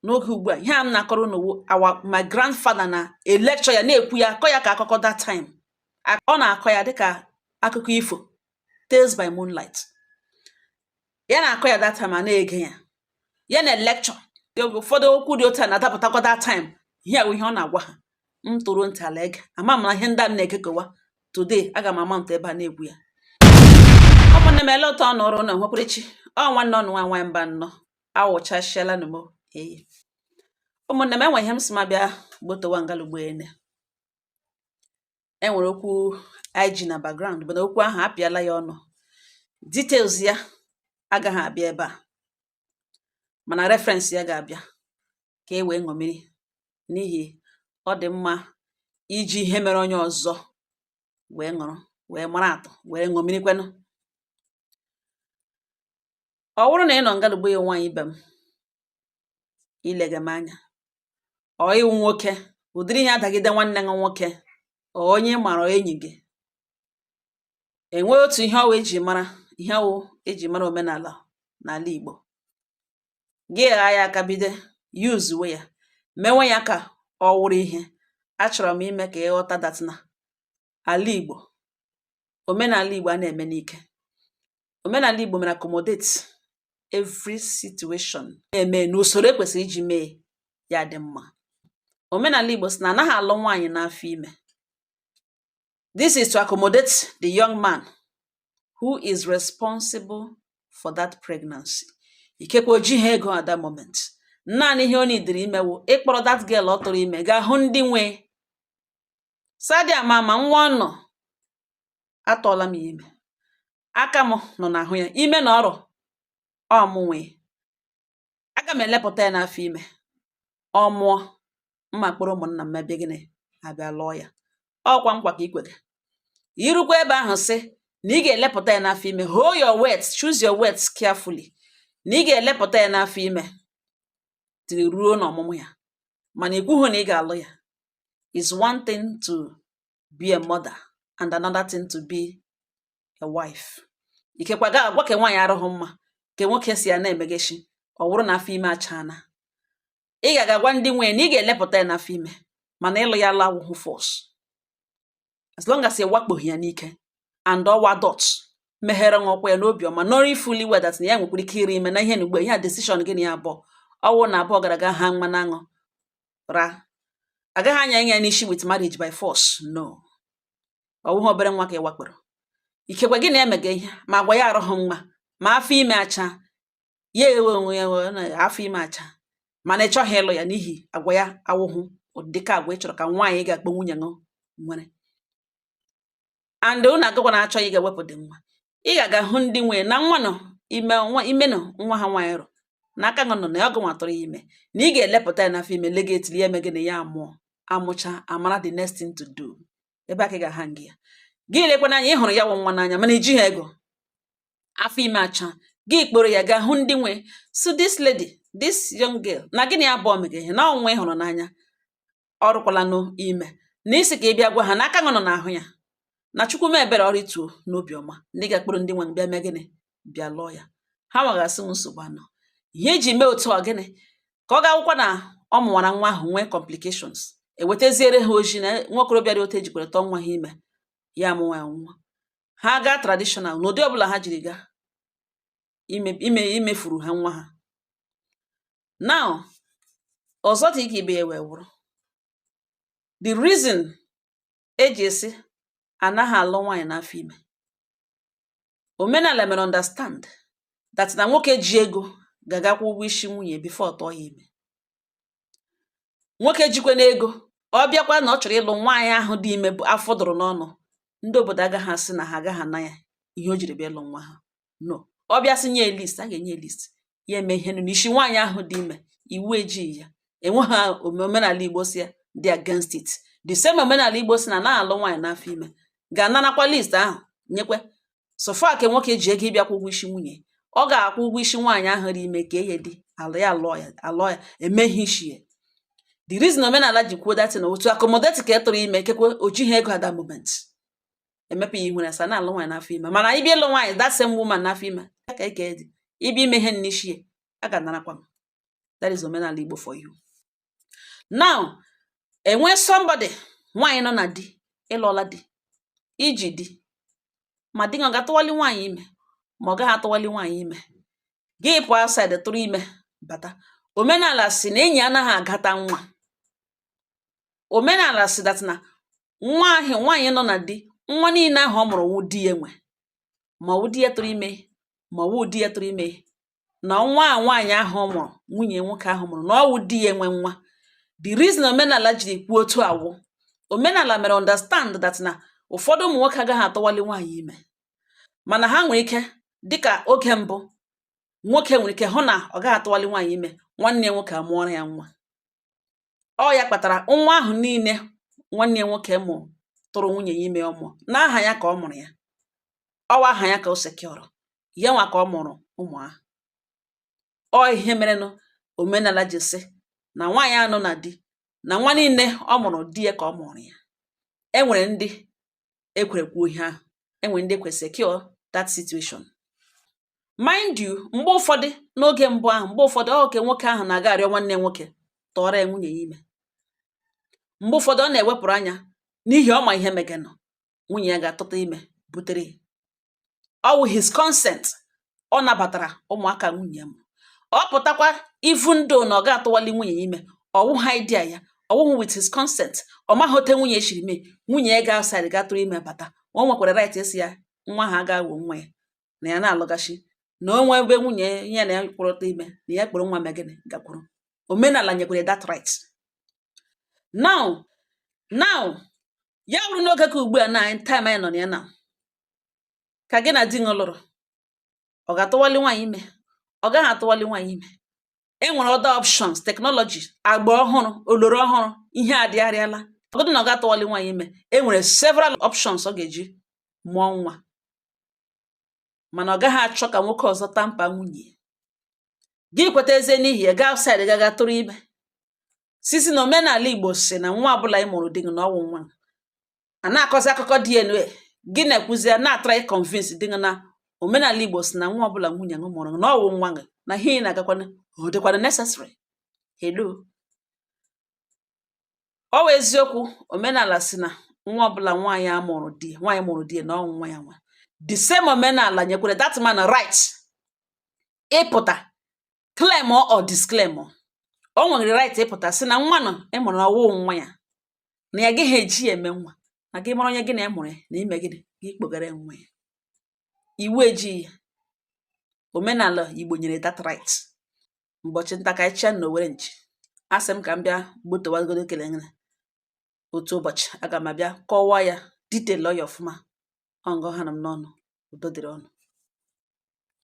n'oge ugbu a ihe a m na-akọrọ unu wụ our my grandfather na-electure ya na-ekwu ya akọ ya ka akụkọ that time A- ọ na-akọ ya dịka akụkọ ifo tales by moonlight ya na-akọ ya that time a na-ege ya ya na-electure ụfọdụ okwu dị otu a na-adapụtakwa that time ihe a wụ ihe ọ na-agwa ha m tọrọ ntị n'ala ege ama m na ihe ndị a m na-ekekewa today aga m ama ntụ ebe a na-egwu ya ụmụnne m ele ụtọ ọ nọrọ ụlọ nwekwara chi ọ nwanne ọnụ nwa nwaanyị mba nnọọ awụchasịala nụ m eyi ụmụnne m enwe ihe m si ma bịa gbotowa ngalugbo ene enwere okwu anyị ji na background bụ na okwu ahụ apịala ya ọnụ details ya agaghị abịa ebe a mana reference ya ga-abịa ka e wee ṅomiri n'ihi ọ dị mma iji ihe mere onye ọzọ wee ṅụrụ wee mara atụ wee ṅomirikwenụ ọ bụrụ na ị nọ ngalugbo ya nwaanyị ibe m i lega m anya ọ ịwụ nwoke ụdịrị ihe a dagide nwanne gị nwoke ọ onye mara enyi gị enwee otu ihe ọwụ eji mara ihe ọwụ eji mara omenala n'ala Igbo gị gha ya aka bido yuzuwe ya mewe ya ka ọ wụrụ ihe achọrọ m ime ka ị ghọta that na ala Igbo omenala Igbo a na-eme n'ike omenala Igbo mere accommodate every situation na-eme n'usoro ekwesịrị iji mee ya dị mma omenala Igbo si na anaghị alụ nwaanyị n'afọ ime this is to accommodate the young man who is responsible for that pregnancy ikekwe o jighị ego at that moment naanị ihe ọ nidiri ime wụ ịkpọrọ that girl ọ tụrụ ime gaa hụ ndị nwe Sadị ama ma nwa unu atụọla m ya ime aka m nọ n'ahụ ya ime na ọrọ ọ mụ nwe ya aga m elepụta ya n'afọ ime ọ mụọ m akpọrọ ụmụnna m mee gịnị abịa lụọ ya ọkwa nkwa ka i kwere i rukwa ebe ahụ sị na ị ga-elepụta ya n'afọ ime hold your words choose your words carefully na ị ga-elepụta ya n'afọ ime dịrị ruo n'ọmụmụ ya mana ikwughị na ị ga-alụ ya is one thing to be a mother and another thing to be a wife ikekwa ga agwa ka nwaanyị arụghị mma ka nwoke si ya na-emegechi ọ bụrụ na afọ ime achaana ị ga-agwa ndị nwe ya na ị ga-elepụta ya n'afọ ime mana ịlụ ya la awụhụ force as long as ị wakpoghị ya n'ike and ọ wụ adult meghere nwa ụkwụ ya n'obi ọma knowing fully well that na ya nwekwara ike iri ime na ihe na ugbo ihe a decision gị na ya abụọ ọwụ unu abụọ gara aga ha mmanụ aṅụ ra agaghị anya ya n'isi with marriage by force no ọwụghị obere nwa ka ị wakporo ikekwe gị na ya emega ihe ma agwa ya arụghị mma ma afọ ime acha ya ewe onwe ya wee na afọ ime acha mana ị chọghị ịlụ ya n'ihi agwa ya awụhụ ụdịka agwa ị chọrọ ka nwaanyị ị ga-akpọ nwunye ṅụ nwere and ụnụ agakwa na achọghị ị ga-ewepụ the nwa ị ga-aga hụ ndị nwe nwa nọ ime nwa ime nọ nwa ha nwaanyị rụ na aka nọ na ya ọ gị nwa tụrụ ya ime na ị ga-elepụta ya n'afọ ime lega until ya emee gịnị ya amụọ amụcha amara the next thing to do ebe aka ị ga-aha gị ya gị lekwana anya ị hụrụ ya wụ nwa n'anya mana i jighị ego afọ ime acha gị kpọrọ ya gaa hụ ndị nwe so this lady this young girl na gị na ya abụọ mege ihe na ọnwa ị hụrụ n'anya ọ rụkwala n'ime na ị sị ka ị bịa gwa ha na aka nọ n'ahụ ya na chukwu mee ebere ọ rịtuo n'obi ọma ndị ga-akpọrọ ndị nwe bịa mee gịnị bịa lụọ ya ha nwegasị nsogbu anọ ihe eji mee otu ọ gịnị ka ọ ga-awụkwa na ọ mụwara nwa ahụ nwee complications ewetaziere ha ozi na nwa okorobịa dị otu ejikwere tụọ nwa ha ime ya amụwa ya nwa ha gaa traditional n'ụdị ọbụla ha jiri gaa imefuru ha nwa ha now ọzọ dị ka ibe ya wee wụrụ the reason e ji asị anaghị alụ nwaanyị n'afọ ime omenala mere understand that na nwoke ji ego ga-aga kwụọ ụgwọ isi nwunye before ọ tụọ ya ime nwoke jikwanụ ego ọ bịa kwuo na ọ chọrọ ịlụ nwaanyị ahụ dị ime bụ afọ dụrụ n'ọnụ ndị obodo agaghị asị na ha agaghị ana ya ihe o jiri bịa ịlụ nwa ha no ọ bịa sị nye list a ga-enye list ya eme ihe n'isi nwaanyị ahụ dị ime iwu ejighị ya enweghị omenala igbo sị ya dị against it the same omenala igbo sị na anaghị alụ nwaanyị n'afọ ime ga-anarakwa list ahụ nyekwe so far ka nwoke ji ego ịbịa kwụọ ụgwọ isi nwunye ọ ga-akwụ ụgwọ isi nwaanyị ahụ dị ime ka ihe dị alụ ya alụọ ya alụọ ya eme ihe isi ya the reason omenala ji kwuo that thing wụ to accommodate ke tụrụ ime kekwe o jighị ego at that moment emepe ya ihu na a sị anaghị alụ nwaanyị n'afọ ime mana ị bịa ịlụ nwaanyị that same woman n'afọ ime ya ka ike dị ị bịa ime ihe n'isi ya a ga-anarakwa m that is omenala Igbo for you now e nwee somebody nwaanyị nọ na di ị lụọla di i ji di ma di ọ ga-atụwali nwaanyị ime ma ọ gaghị atụwali nwaanyị ime gị pụọ outside tụrụ ime bata omenala sị na enyi anaghị agata nwa omenala sị that na nwa ahụ nwaanyị nọ na di nwa niile ahụ ọ mụrụ wụ di ya nwe ma ọ wụ di ya tụrụ ime ma ọ wụhụ di ya tụrụ ime na nwa a nwaanyị ahụ ọ mụrụ nwunye nwoke ahụ mụrụ na ọ wụ di ya nwe nwa the reason omenala jiri kwuo otu a wụ omenala mere understand that na ụfọdụ ụmụ nwoke agaghị atụwali nwaanyị ime mana ha nwere ike dịka oge mbụ nwoke nwere ike hụ na ọ gaghị atụwali nwaanyị ime nwanne ya nwoke amụọrọ ya nwa ọ ya kpatara nwa ahụ niile nwanne ya nwoke mụrụ tụrụ nwunye ya ime ọ mụọ n'aha ya ka ọ mụrụ ya ọwụ aha ya ka o sekiọrọ ya nwa ka ọ mụrụ ụmụ ahụ ọ ihe merenụ omenala ji sị na nwaanyị a nọ na di na nwa niile ọ mụrụ di ya ka ọ mụrụ ya e nwere ndị ekwerekwuo ihe ahụ e nwere ndị kwe secure that situation mind you mgbe ụfọdụ n'oge mbụ ahụ mgbe ụfọdụ oke nwoke ahụ na-aga arịọ nwanne nwoke tụọrọ ya nwunye ya ime mgbe ụfọdụ ọ na-ewepụrụ anya n'ihi ọ ma ihe meganụ nwunye ya ga-atụta ime butere ọ wụ his consent ọ nabatara ụmụaka nwunye ya mụrụ ọ pụtakwa even though na ọ ga-atụwali nwunye ya ime ọwụhụ idea ya ọwụhụ with his consent ọ maghị ote nwunye ya shiri mee nwunye ya gaa outside ga tụrụ ime bata ma o nwekwara right ịsị ya nwa ha ga-awụ nwa ya na ya na-alụgachi na onwe ebe nwunye ya na ya kwụrụta ime na ya kpọrọ nwa mee gịnị gakwuru omenala nyekwere that right now now ya wụrụ n'oge ka ugbu a na time anyị nọ na ya na ka gị na di gị lụrụ ọ ga-atụwali nwaanyị ime ọ gaghị atụwali nwaanyị ime e nwere other options technology agba ọhụrụ oloro ọhụrụ ihe adịgharịala ọgụdị na ọ ga-atụwali nwaanyị ime e nwere several options ọ ga-eji mụọ nwa mana ọ gaghị achọ ka nwoke ọzọ tamper nwunye gị kweta ezie n'ihi ya gaa outside gaga tụrụ ime sịzi na omenala igbo sị na nwa ọbụla ị mụrụ di gị na ọwụ nwa a na-akọzi akụkọ DNA gị na-ekwuzi ya na-atry ịconvince di gị na omenala Igbo sị na nwa ọbụla nwunye gị mụrụ na ọwụ nwa gị na ihe ị na-agakwana ọ dịkwana necessary hello ọ wụ eziokwu omenala sị na nwa ọbụla nwaanyị a mụrụ di nwaanyị mụrụ di na ọwụ nwa ya nwa the same omenala nyekwere that man right ịpụta claim or disclaim o nwere right ịpụta sị na nwa nọ ị mụrụ ọwụ nwa ya na ya agaghị eji ya eme nwa na gị mara onye gị na ya mụrụ ya na i mee gịnị gị kpọgara nwa ya iwu ejighị ya omenala igbo nyere that right ụbọchị nta ka anyị chụa n'owere nchi a sị m ka m bịa gbotowagodo kele ngana otu ụbọchị aga m abịa kọwaa ya detail ya ọfụma ọ nga ọ hanụ m n'ọnụ udo dịrị unu